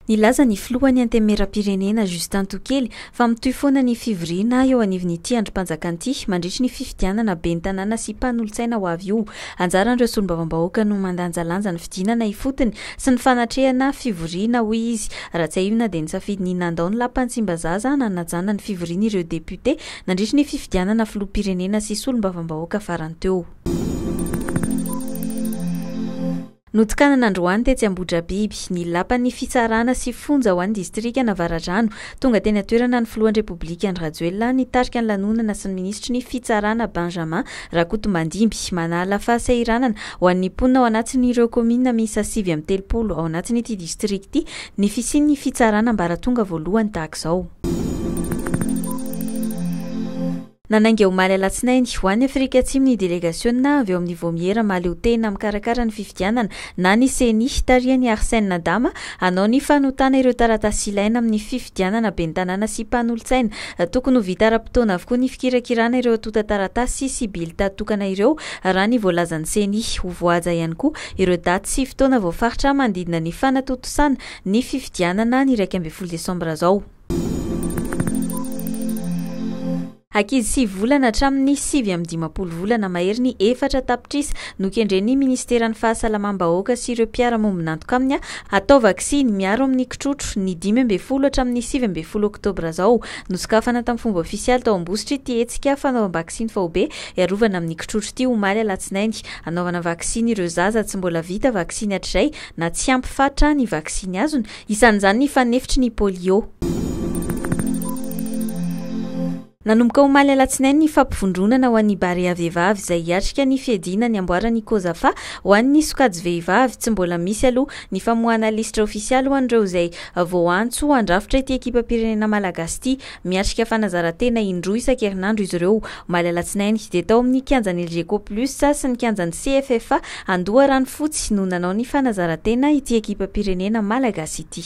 Nilaza ny filohan'ny Antenimierampirenena, Justin Tokely, fa mitohy foana ny fivoriana eo anivon'ity andrim-panjakana ity mandritry ny fifidianana ben'ny tanàna sy mpanolotsaina ho avy io. Anjaran'ireo solombavambahoaka no mandanjalanja ny fidinana ifotony sy ny fanatrehana fivoriana, hoy izy. Raha tsiahivina dia nisafidy ny nandao ny lapan'i Tsimbazaza hanajana ny fivoriany ireo depiote nandritry ny fifidianana filoham-pirenena sy solombavambahoaka farany teo. Notokanana androany tetsy Ambohidrabiby, ny lapan'ny fitsarana sy fonja ho an'ny distrikan'Avaradrano. Tonga teny an-toerana ny filohan'ny Repoblika Andry Rajoelina nitarika ny lanonana sy ny minisitry ny Fitsarana Benjamin Rakotomandimby. Manala fahasahiranana ho an'ny mponina ao anatin'ireo kaominina miisa sivy amby telopolo ao anatin'ity distrika ity ny fisian'ny fitsarana ambaratonga voalohany tahaka izao. Nanainga omaly alatsinainy, ho any Afrika Atsimo ny delegasiona avy ao amin'ny Vaomiera mahaleotena mikarakara ny fifidianana na ny Ceni, tarihan'i Arsène Adama, hanao ny fanotana ireo taratasy ilaina amin'ny fifidianana ben'ny tanàna sy mpanolotsaina. Tokony ho vita ara-potoana avokoa ny fikirakirana ireo antontan-taratasy sy bilta tokana ireo, raha ny voalazan'ny Ceni. Ho voahaja ihany koa ireo daty sy fotoana voafaritra manodidina ny fanatontosana ny fifidianana ny iraika ambin'ny folo desambra izao. Ankizy sivy volana hatramin'ny sivy amby dimampolo volana mahery ny efatra tapitrisa nokendren'ny Ministeran'ny Fahasalamam-bahoaka sy ireo mpiara-mombon'antoka aminy hatao vaksiny miaro amin'ny kitrotro ny dimy ambin'ny folo hatramin'ny sivy ambin'ny folo oktobra izao. Nosokafana tamin'ny fomba ofisialy tao Ambositra ity hetsika fanaovam-baksiny faobe hiarovana amin'ny kitrotro ity omaly alatsinainy hanaovana vaksiny ireo zaza tsy mbola vita vaksiny hatrizay na tsy ampy fatra ny vaksiny azony Isan'izany ny fanefitry ny polio. Nanomboka omaly alatsinainy ny fampivondronana ho an'ny Barea vehivavy izay hiatrika ny fiadiana ny amboaran'ny Cozafa ho an'ny sokajy vehivavy. Tsy mbola misy aloha ny famoahana lisitra ofisialy ho an'ireo izay voaantso handrafitra ity ekipam-pirenena malagasy ity. Miatrika fanazaran-tena indroa isan-kerinandro izy ireo, omaly alatsinainy, dia tao amin'ny kianjan'ny Elgeco Plus sy ny kianjan'ny CFFA Andoharanofotsy no nanao ny fanazaran-tena ity ekipam-pirenena malagasy ity.